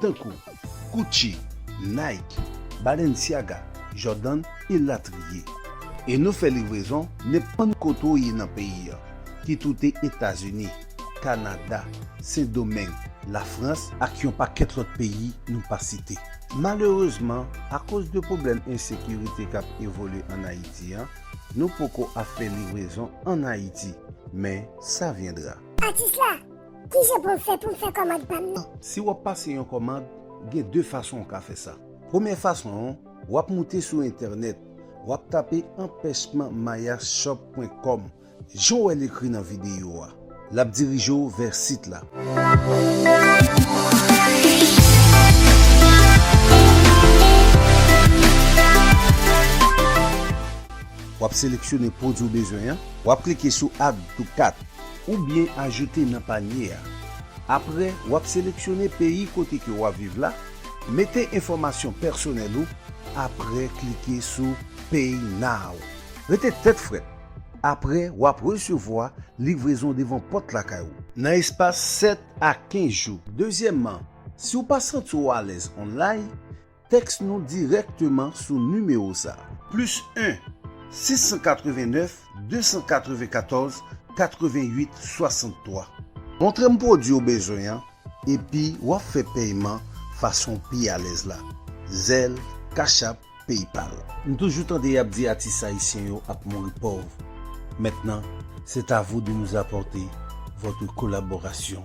tankou Gucci, Nike, Balenciaga, Jordan elatriye. E nou fè livrezon nenpòt kote w ye nan peyi an, ki tou te Etazini, Kanada, Sendomeng, Lafrans ak yon pakèt lòt peyi nou pa site. Malerezman, akoz de pwoblèm ensekirite k ap evolye an Ayiti an, nou poko ap fè livrezon an Ayiti, men sa vyendra. Atis la! Kijan pou m fè pou m fè kòmand pa m nan? Si w ap pase yon kòmand, gen 2 fason ou ka fè sa. Premyè fason an, w ap moute sou entènèt, w ap tape anpèchman mayashop.com jan w wè l ekri nan videyo a. L ap dirije w vè sit la. W ap seleksyone pwodui w bezwen an. W ap klike sou Add to Cart. oubyen ajoute nan panye a. Apre, w ap seleksyone peyi kote ke w ap viv la, mete enfòmasyon pèsonèl ou, apre klike sou Pay Now. Rete tèt frèt, apre w ap resevwa livrezon devan pòt lakay ou, nan espas 7 a 15 jou. Dezyèmman, si w pa santi w alèz online, Tèks nou dirèkteman sou nimewo sa. Plis 1 689 294 88 63. Montre m pwodwi w bezwen an epi w ap fè pèyman fason w pi alèz la, Zelle, Cash App, PayPal. M toujou tande yap di atis ayisyen yo ap mouri pòv, maintenant c'est à vous de nous apporter votre collaboration.